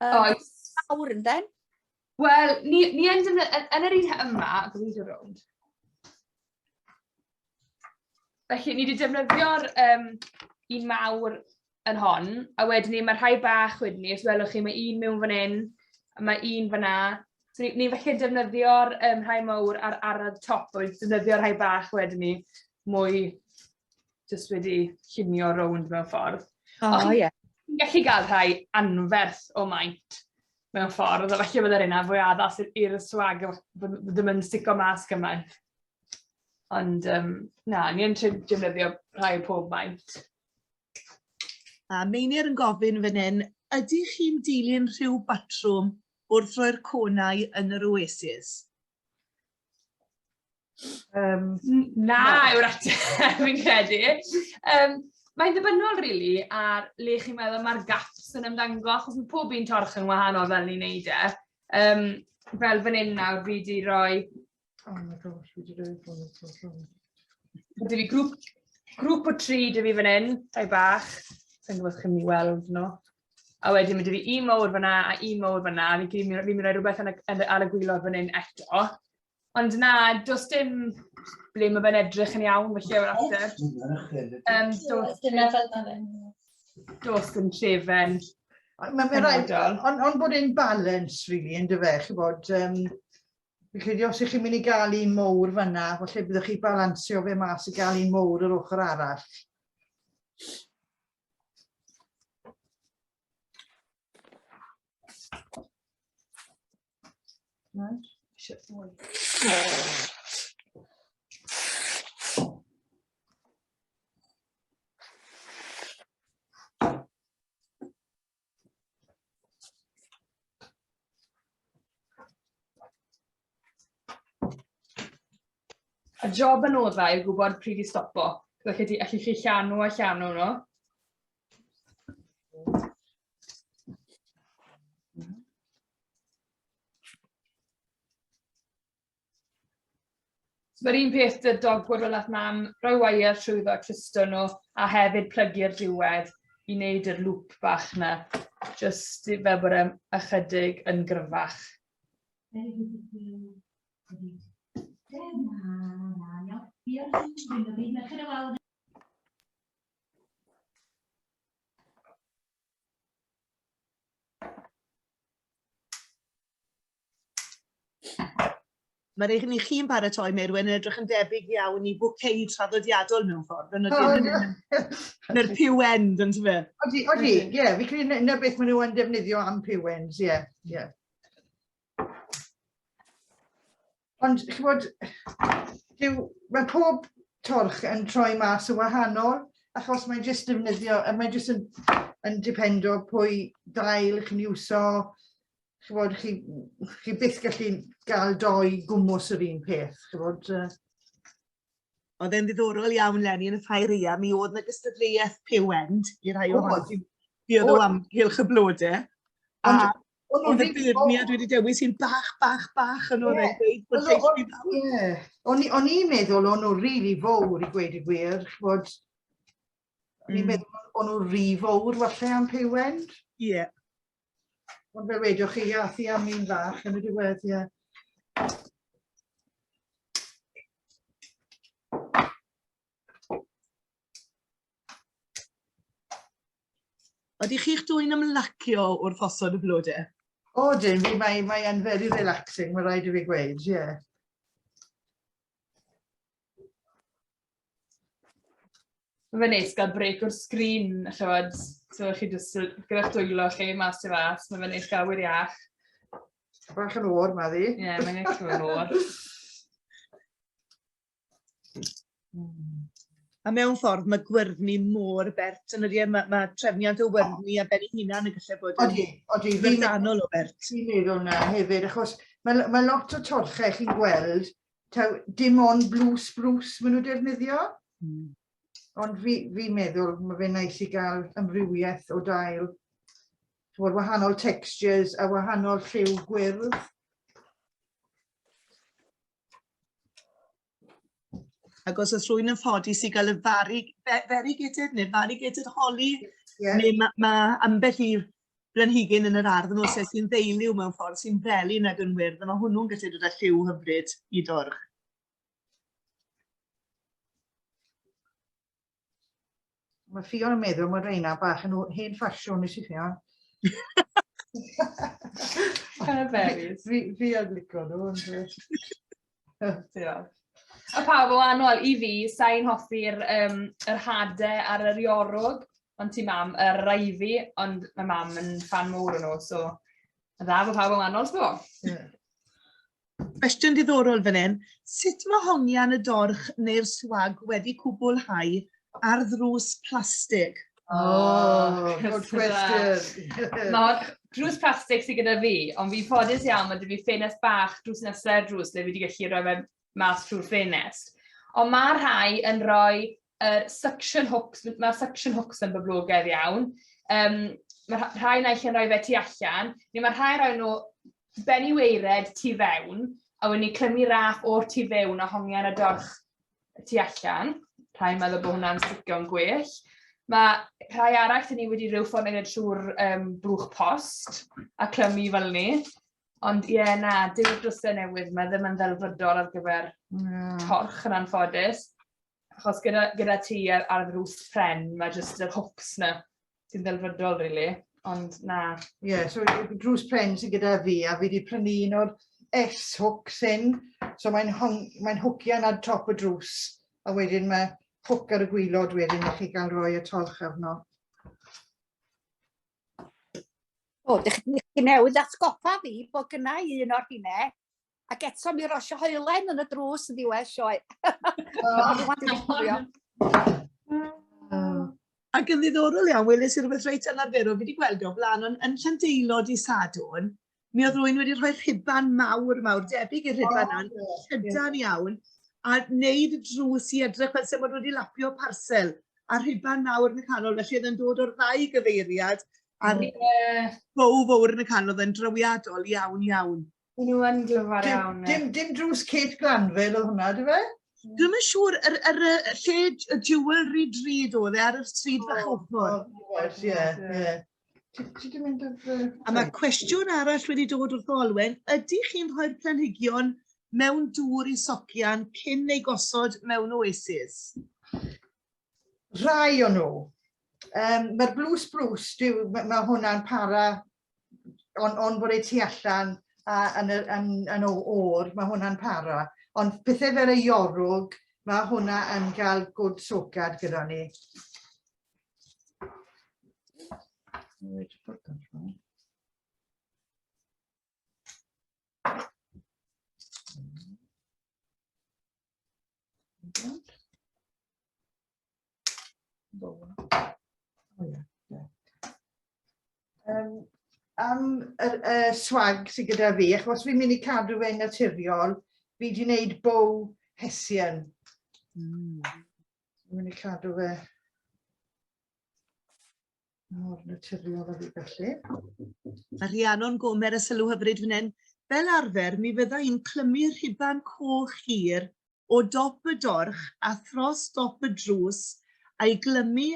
Um, Oes. Awr yn den? Wel, ni, ni yn, yn, yn yr un yma, dwi'n mynd i'r rownd. Felly, ni wedi defnyddio'r um, un mawr yn hon, a wedyn ni, mae rhai bach wedyn ni, os welwch chi, mae un mewn fan hyn, a mae un fan na. So ni'n ni felly defnyddio'r um, rhai mawr ar arad top, a wedyn defnyddio'r rhai bach wedyn ni, mwy jyst wedi llunio rownd mewn ffordd. O, oh, ie. Yeah. Ni'n gallu gael rhai anferth o maint mewn ffordd, a felly byddai'r yna fwy addas i'r swag, ddim yn stico mas gymaint. Ond um, na, ni'n trin defnyddio rhai pob maint. A Meinir yn gofyn fan hyn, ydych chi'n dilyn rhyw batrwm wrth roi'r conau yn yr oasis? Um, na, yw'r ateb, fi'n credu. Um, mae'n ddibynnol, rili, really, ar le chi'n meddwl mae'r gaps yn ymddangos, achos mae pob un torch yn wahanol fel ni'n neud e. Um, fel fan hyn nawr, fi wedi rhoi Oh my gosh, fi wedi rhaid bod yn tos rhwng. Dwi fi grŵp, grŵp o tri dwi fi fan hyn, tai bach. Sa'n gwybod chi'n mynd weld nhw. A wedyn mae dwi fi un mawr fanna a un mawr fanna. Fi'n fi, fi, fi mynd i rhywbeth yn y, yn y, ar y gwylod fan hyn eto. Ond na, does dim ble mae fe'n edrych yn iawn, felly yw'r ateb. Um, does dim Does dim llefen. Mae'n rhaid, ond on bod e'n balance, really, yn dy fe, chi bod, um, Fi'n credu os ych chi'n mynd i gael un mowr fanna, falle byddwch chi balansio fe mas i gael un mowr yr ochr arall. Right. A job yn oddau yw gwybod pryd i stopo. Felly chi, allu chi llanw a llanw nhw. Mae'r un peth dy dogwr fel at mam, rhoi wire trwyddo a clusto nhw, a hefyd plygu'r diwedd i wneud yr lŵp bach na, jyst fel bod e'n ychydig yn gryfach. Mae'r eich ni chi'n paratoi, Meirwen, yn edrych yn debyg iawn i bwcei traddodiadol mewn ffordd, yn ydyn nhw'r pew end, yn tyfe? Odi, odi, ie, yeah, fi credu na beth maen nhw'n defnyddio am pew ends, ie, yeah, ie. Yeah. Ond, chi bod, dyw, mae pob torch yn troi mas yn wahanol, achos mae'n jyst defnyddio, mae'n jyst yn, yn dependo pwy dail chi'n iwso, ch'mod chi chi byth gallu gael dou gwmws yr un peth ch'mod yy. Oedd e'n ddiddorol iawn Lenny yn y ffeiria mi oedd 'na gystadleuaeth piwend i rhai o hwn sy'n dueddol o amgylch y blode. A o'n nhw'n beirniad wedi dewis sy'n bach bach bach yn oedd e'n gweud bod lleiswi fawr. O'n o'n i'n meddwl o'n nhw'n rili fowr i gweud y gwir ch'mod o'n i'n hmm. meddwl o'n nhw'n rhy fowr falle am piwend. Ie. Yeah. Ond fe wedoch chi iath i am un fach yn y diwedd, ie. Ydych chi'ch dwy'n ymlacio wrth osod y blode? O, dim fi, mae, mae yn very relaxing, mae rhaid i fi gweud, ie. Yeah. Mae fe'n neis gael brêc o'r sgrin, chimod. So, chi jyst yn... gyda'ch dwylo chi mas tu fas, mae fe'n neis gael awyr iach. Bach yn o'r ma ddi. Ie, mae'n neis gael yn o'r. A mewn ffordd, mae gwyrddni mor bert yn ydy, e? mae, mae trefniant o wyrddni a ben ei hunan yn gallu bod yn odi, o bert. Fi'n meddwl na hefyd, achos mae, mae lot o torchau chi'n gweld taw dim ond blue spruce maen nhw defnyddio. Mm. Ond fi, fi meddwl mae fe'n nais i gael ymrywiaeth o dail. Chymod, wahanol textures a wahanol lliw gwyrdd. Ac os oes rhywun yn ffodus i gael y fari, feri gyda'r neu fari gyda'r holi, yeah. neu mae ma ambell i blanhigyn yn yr ardd yn ôl sef sy'n ddeiliw mewn ffordd sy'n feli nag yn wyrdd a mae hwnnw'n gallu dod â lliw hyfryd i dwrch. Mae Ffion yn meddwl mae reina bach yn hen ffasiwn i si Ffion. Kind of varies. Fi, fi yn licio nhw. Diolch. A pawb o anol i fi, sa'n hoffi'r um, yr hade ar yr iorwg, ond ti mam, yr raifi, ond mae mam yn fan mowr o nhw, so a dda fo pawb o anol, sbo. Cwestiwn diddorol fan hyn. Sut mae hongian y dorch neu'r swag wedi cwblhau ar ddrws plastig? O, oh, good question. Nawr, drws plastig sydd gyda fi, ond fi'n ffodus iawn, mae dy fi ffenest bach drws nesau'r drws lle fi wedi gallu rhoi fe mas trwy'r ffenest. Ond mae rhai yn rhoi er, suction hooks, mae'r suction hooks yn boblogaidd iawn. Um, mae rhai naill yn rhoi fe tu allan, neu mae rhai rhoi nhw ben i weired tu fewn, a wedyn ni clymu raff o'r tu fewn a hongian y dorch y tu allan. Rhai'n meddwl bod hwnna'n sticio'n gwell. Mae rhai arall yn ni wedi rhyw ffordd yn trwy'r um, blwch post a clymu fel ni. Ond ie, yeah, na, dim y drwsau newydd mae ddim yn ddelfrydol ar gyfer mm. torch yn anffodus. Achos gyda, gyda ti ar, ar y rws pren, mae jyst yr hwcs na sy'n ddelfrydol, really. Ond na. Ie, yeah, so Drws Pren sy'n gyda fi, a fi wedi prynu un o'r S-hook sy'n, so mae'n mae hwcio yna top y drws, a wedyn mae hook ar y gwylod wedyn, a chi gael rhoi y torch arno. O, dych chi newydd atgoffa fi bod gynnau un o'r hynne, Ac eto mi rosio hoelen yn y drws yn ddiwedd sioe. Ac yn ddiddorol iawn, weles i rhywbeth reit anarferol, fi wedi gweld o blaen, ond yn Llandeilod i Sadwn, mi oedd rwy'n wedi rhoi rhuban mawr, mawr, debyg i'r rhuban oh, yna, llydan iawn, a wneud y drws i edrych fel sef wedi lapio parcel, a rhuban mawr yn y canol, felly oedd yn dod o'r ddau gyfeiriad, a'r yeah. bow fawr yn y canol, oedd yn drawiadol iawn, iawn. Maen nhw yn glyfar Dim, iawn. ie. dim, dim drws Kate Glanville oedd hwnna, dy fe? Dwi'm yn siŵr, yr, yr, y lle y jewelry drud oedd e ar y stryd fach O, ochr. o, oes, ie, ie. Ti ti 'di mynd ar fy... A mae cwestiwn arall wedi dod wrth Olwen, ydych chi'n rhoi'r planhigion mewn dŵr i socian cyn ei gosod mewn oasis? Rhai o nhw. Um, Mae'r blue spruce, dyw, mae ma hwnna'n para on, on bod ei tu allan a, yn, yr, yn, yn o o'r, mae hwnna'n para. Ond pethau fel y iorwg, mae hwnna yn cael gwd socad gyda ni. Right, Um, am y, y swag sydd gyda fi, achos fi'n mynd i cadw fe'n naturiol, fi wedi gwneud bow hesian. Mm. Fi'n mynd i cadw fe Nawr, naturiol o fi felly. Mae Rhiannon Gomer y sylw hyfryd fan hyn. Fel arfer, mi fydda i'n clymu rhuban coch hir o dop y dorch a thros dop y drws a'i glymu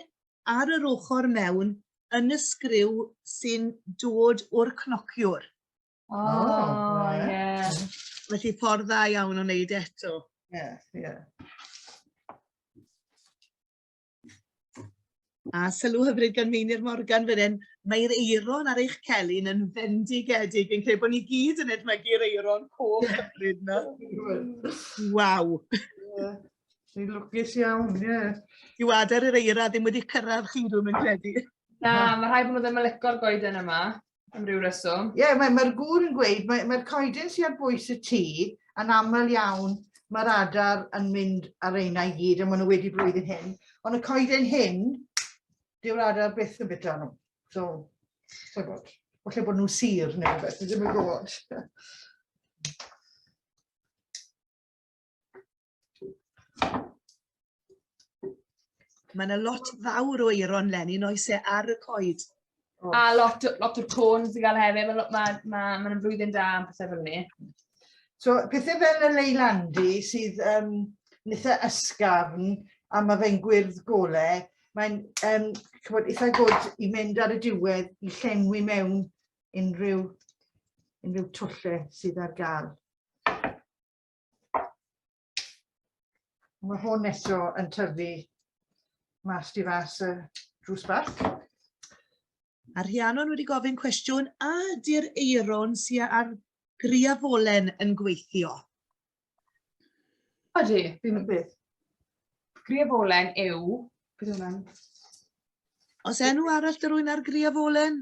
ar yr ochr mewn yn y sgriw sy'n dod o'r cnociwr. O, oh, ie. Yeah. Felly ffordd dda iawn o wneud eto. Ie, yeah, ie. Yeah. A sylw hyfryd gan Meinir Morgan fan hyn, mae'r eiron ar eich celyn yn fendigedig. Fi'n credu bod ni gyd yn edmygu'r eiron coch hyfryd na. Waw! Ni'n lwcus iawn, ie. Yeah. Yw adael yr eira ddim wedi cyrraedd chi, dwi'n mynd credu. Na, mae rhai bod nhw ddim yn licor goeden yma. am ryw reswm. Ie, yeah, mae'r mae gŵr yn gweud, mae'r mae coedyn sy'n ar bwys y tŷ yn aml iawn, mae'r adar yn mynd ar eina i gyd, a maen nhw wedi blwyddyn hyn. Ond y coedyn hyn, dyw'r adar byth yn bita nhw. So, so bod. Felly bod nhw'n sir neu rhywbeth, ddim yn gwybod. Mae yna lot fawr o eiron Lenny, noes e ar y coed. Oh. A lot, lot o'r côn sy'n cael hefyd, mae'n ma, ma, ma flwyddyn da am pethau fel ni. So, pethau fel y leilandi sydd um, nitha ysgafn a mae fe'n gwyrdd gole, mae'n um, cymod, eitha gwrdd i mynd ar y diwedd i llenwi mewn unrhyw, unrhyw twlle sydd ar gael. Mae hwn eto yn tyfu mas di fas y drws bach. A Rhiannon wedi gofyn cwestiwn, a ydy'r eiron sy'n ar griafolen yn gweithio? Odi, fi'n mynd beth. Griafolen yw, beth yw hwnna'n? Os enw arall dy rwy'n ar griafolen?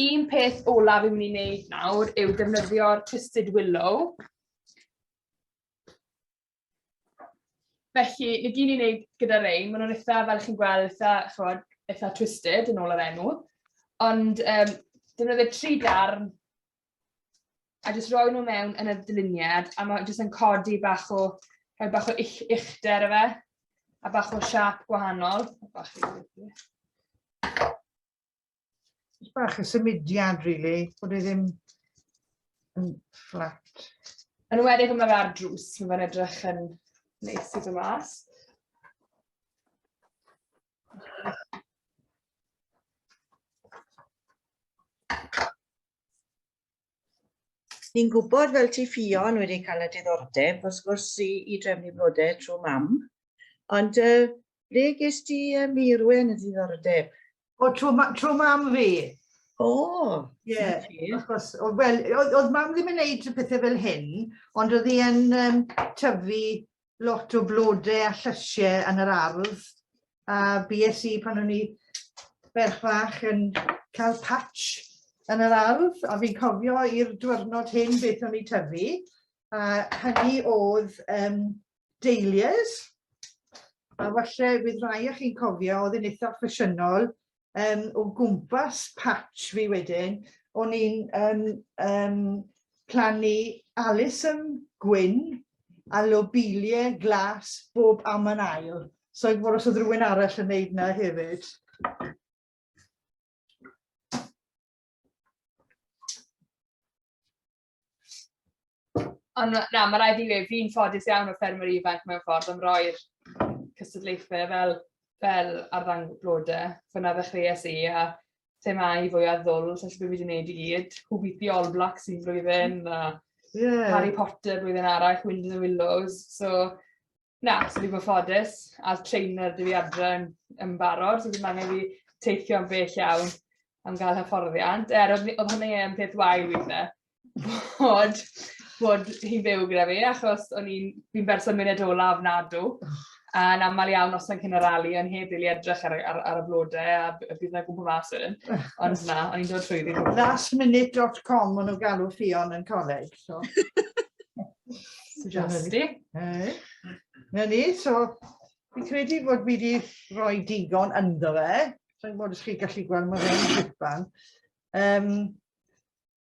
un peth olaf fi'n mynd i wneud nawr yw defnyddio'r Twisted Willow. Felly, ni gyn i'n wneud gyda rein, maen nhw'n eitha, fel chi'n gweld, eitha, chod, eitha twisted yn ôl yr enw. Ond um, defnyddio tri darn a jyst roi nhw mewn yn y dyluniad a mae jyst yn codi bach o, rhoi bach o ich, ichter efe a bach o siap gwahanol. Bach o Just bach y symudiad, really, bod e ddim yn fflat. Yn wedyn yma fe ar drws, mae fe'n edrych yn neis i fy mas. Ni'n gwybod fel ti Ffion wedi cael y diddordeb wrth gwrs i, i drefnu blode trwy mam, ond uh, ble ges ti uh, Meirwen y ddiddordeb? O, trwy, ma trwy mam fi. O, yeah. wrth gwrs. Wel, oedd mam ddim yn neud pethau fel hyn, ond oedd hi yn um, tyfu lot o flode a llysie yn yr ardd a bues i pan o'n i ferch fach yn cael patch yn yr ardd a fi'n cofio i'r diwrnod hyn beth o'n i tyfu a hynny oedd um, dahlias a falle bydd rhai o chi'n cofio oedd yn eitha ffasiynol um, o gwmpas patch fi wedyn, o'n i'n um, um, plannu Alison Gwyn a lobelia glas bob am yn ail. So i fod os oedd rhywun arall yn neud na hefyd. Ond na, mae rhaid i fi, fi'n ffodus iawn o ffermwyr ifanc mewn ffordd am roi'r cystadlaethau fel, fel arddang blodau. Fyna ddechreuais i a thema i fwy o ddwl, so beth fi wedi gwneud i gyd. Who beat the All Blacks un blwyddyn, a yeah. Harry Potter blwyddyn arall, Wind in the Willows. So, Na, so fi'n ffodus, a trainer dwi adre yn, yn barod, so ddim angen fi teithio am bell iawn am gael hyfforddiant. Er, oedd, oedd hwnna yn peth wael weithe, bod, bod hi'n byw gyda fi, achos o'n i'n fi berson mynd ola ofnadw. A yn aml iawn os o'n cyn y rali, o'n heb rili edrych ar, ar, ar y blodau a bydd yna gwmpa mas wedyn. Ond na, o'n i'n dod trwy ddim. Lastminute.com o'n nhw'n galw ffion yn coleg. So. Fantastic. Na ni, so fi'n credu bod fi wedi rhoi digon ynddo fe. Rwy'n bod ysgrif gallu gweld mae fe'n gwybod. Um,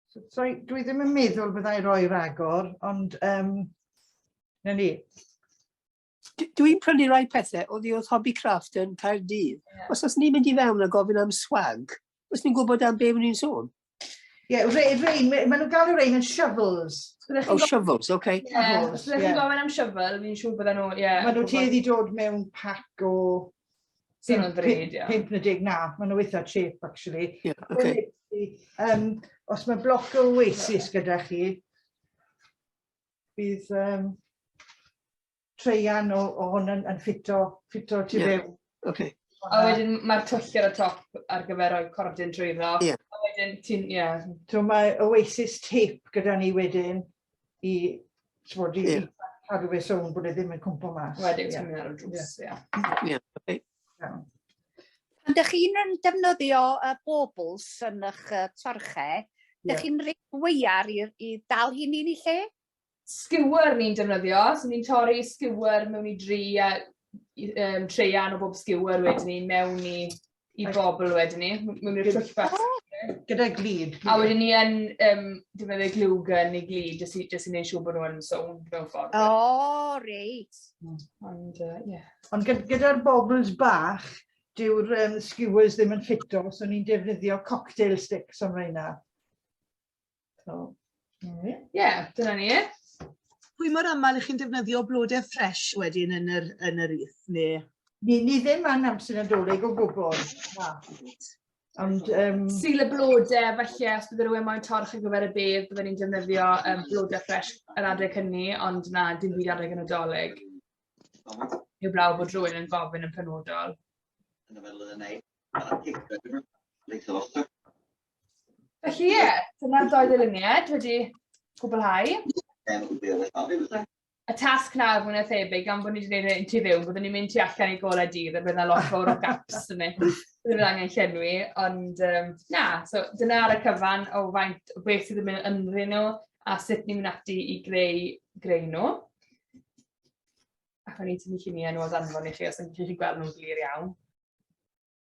so, so, dwi ddim yn meddwl byddai roi ragor, ond um, na ni. dwi'n prynu rai pethau o ddi oedd Hobby Craft yn Caerdydd. Yeah. Os oes ni'n mynd i fewn a gofyn am swag, os ni'n gwybod am beth ni'n sôn. Ie, yeah, rei, rei, maen nhw'n galw rei yn shovels. Oh, shovels, oce. Okay. Yeah, os ydych chi'n gofyn am shovel, fi'n siŵr bydden nhw, ie. Yeah, maen nhw tuedd i dod mewn pac o... Sy'n o'n ddryd, ie. 50 na, maen nhw eitha cheap, actually. Ie, yeah, oce. Okay. Um, os mae bloc o oasis gyda chi, bydd um, treian o, o hwn yn, yn ffito, ffito tu yeah. fewn. Okay. A wedyn mae'r twll ar y top ar gyfer rhoi cordyn drwy ddo. Yeah. A wedyn ti'n, ie. Yeah. So mae Oasis tape gyda ni wedyn i, bod i yeah. cadw fe sôn bod e ddim yn cwmpo mas. Wedyn ti'n mynd ar y drws, ie. Ie, Iawn. Pan ydych chi'n defnyddio y bobls yn eich torche, ydych chi'n rhaid weiar i, i dal hyn i'n ei lle? Skewer ni'n defnyddio, so ni'n torri skewer mewn i dri a um, treian o bob skewer wedyn ni mewn i, i bobl wedyn ni, mewn i'r twll bach. Gyda glid. A wedyn ni yn um, defnyddio glwgen neu glid jyst i, jyst i wneud siŵr bod nhw'n sownd mewn ffordd. O, oh, reit. Ond, ie. Uh, yeah. Ond gyda'r bobls bach, dyw'r um, skewers ddim yn ffito, so ni'n defnyddio cocktail sticks am reina. So, ie, yeah, dyna ni e. Pwy mor aml ych chi'n defnyddio blodau ffres wedyn yn yr, yn yr ith, neu? Ni, ni ddim yn amser nadolig o gwbl. Ond, um... Syl y blodau, felly, os bydd rhywun moyn torch ar gyfer y bedd, byddwn ni'n defnyddio um, blodau ffres yr adeg hynny, ond na, dim byd adeg yn nadolig. Heb law bod rhywun yn gofyn yn penodol. Yn y meddwl yn ei, a picture, dwi'n leithio fo. Felly ie, dyna'r doi ddyluniad wedi gwblhau. Y tasg nawr mwyn a thebyg, gan bod ni wedi gwneud yn tu fyw, byddwn ni'n mynd tu allan i golau dydd a bydd yna lot fawr o gaps yn mynd. Byddwn ni'n angen llenwi, ond um, na, so dyna ar y cyfan o faint o beth sydd yn mynd ynddyn nhw a sut ni'n mynd ati i greu, greu nhw. Ac o'n i'n tynnu lluniau nhw o danfon i chi os ydych chi'n gweld nhw'n glir iawn.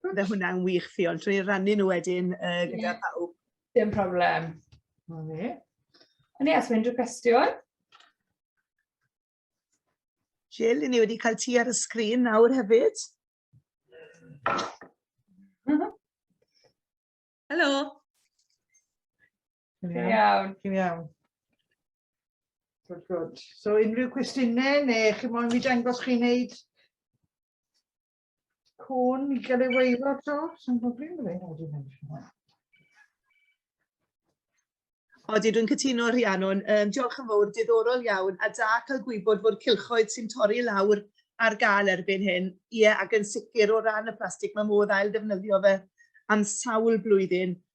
Bydde hwnna'n wych, Ffion, trwy rannu nhw wedyn uh, gyda yeah. pawb. Dim problem. Ond ie, os mae unrhyw cwestiwn? Jill, ni wedi cael ti ar y sgrin nawr hefyd. Helo. Chi'n iawn? Chi'n iawn. Good, good. So unrhyw cwestiynau neu chi moyn mi dangos chi'n neud cwn i gael ei weiro to? Sa'n gwybod beth yw'n ei wneud. Odi, dwi'n cytuno Rhiannon. Um, diolch yn fawr, diddorol iawn, a da cael gwybod bod cilchoedd sy'n torri lawr ar gael erbyn hyn. Ie, ac yn sicr o ran y plastig, mae modd ail ddefnyddio fe am sawl blwyddyn.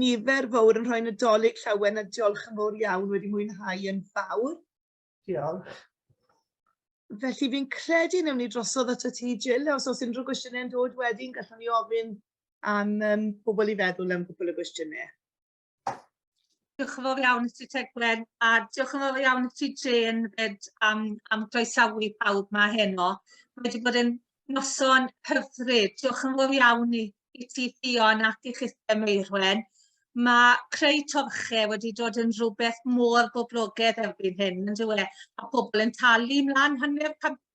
Nifer fawr yn rhoi Nadolig llawen a diolch yn fawr iawn wedi mwynhau yn fawr. Diolch. Felly fi'n credu newn ni drosodd ato ti Jill, os oes unrhyw gwestiynau'n dod wedyn, gallwn ni ofyn am um, pobl i feddwl am gwbl o gwestiynau. Diolch yn fawr iawn i ti Teglen a diolch yn fawr iawn i ti Jane fyd am, am groesawu pawb ma heno. Mae wedi bod yn noson hyfryd. Diolch yn fawr iawn i, i ti Ffion ac i chithau Meirwen. Mae creu torche wedi dod yn rhywbeth mor boblogaidd erbyn hyn, yn dywe, a pobl yn talu mlaen hanner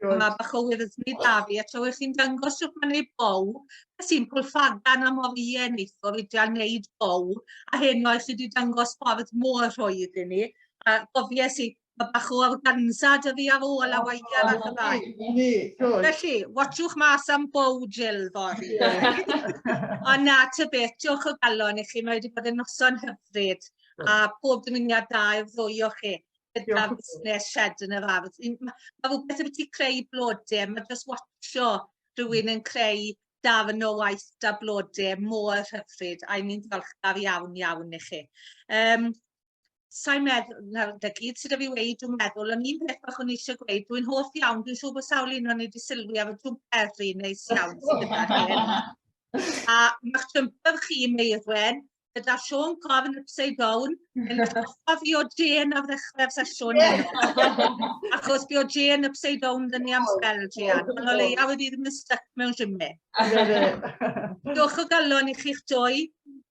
Good. Mae bach o wyddysni da fi, a tra chi'n dangos sut mae'n ei bow, a sy'n pwlfagan am o'r ie neithwr i dal wneud bow, a hyn oes wedi dangos ffordd mor rhwydd i ni, a gofies i, mae bach o organza dy fi ar ôl a waia ar y rai. Felly, watchwch mas am bow Jill fory. Ond na, ty beth, diolch o galon i chi, mae wedi bod yn noson hyfryd, a pob dymuniad da i'r ddwy o chi. gyda'r busnes shed yn yr ardd. Mae rhywbeth yn ti creu blodau, mae just watcho rhywun yn creu darn o waith da blodau mor hyfryd, a ni'n ddiolchgar iawn iawn i chi. Um, Sa'n meddwl, nawr, da gyd sydd wedi weid, dwi'n meddwl, ond un peth bach o'n eisiau gweud, dwi'n hoff iawn, dwi'n siŵr bod sawl un o'n wedi sylwi ar y drwm peri neis iawn sydd gyda hyn. A mae'ch jumper chi, Meirwen, gyda Siôn Corn Upside Down, yn atgoffa fi o Jane ar ddechrau'r sesiwn. Achos fi o Jane Upside Down dyn ni am spel, Jane. Ond o leia wedi ddim yn stuck mewn simme. Diolch o galon i chi'ch dwy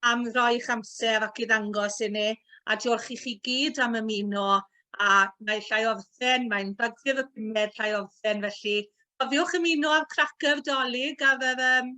am roi'ch amser ac i ddangos i ni, a diolch i chi gyd am ymuno a mae llai orffen, mae'n bagfyr y pumed llai orffen, felly cofiwch ymuno â'r cracker dolyg ar yr um,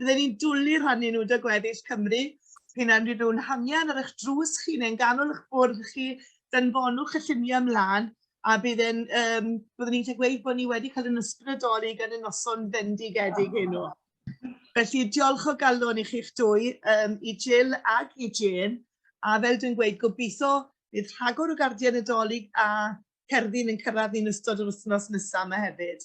Byddwn ni'n dwlu rhannu nhw da gweddill Cymru. P'un am rydw yn hangen ar eich drws chi neu'n ganol eich bwrdd chi, danfonwch y lluniau ymlaen a bydd yn, um, byddwn ni'n gweud bod ni wedi cael yn ysbrydoli gan y noson fendigedig heno. Felly, diolch o galon i chi'ch dwy, um, i Jill ac i Jane, a fel dwi'n gweud, gobeithio bydd rhagor o gardiau Nadolig a cerddi'n yn cyrraedd ni'n ystod yr wythnos nesaf yma hefyd.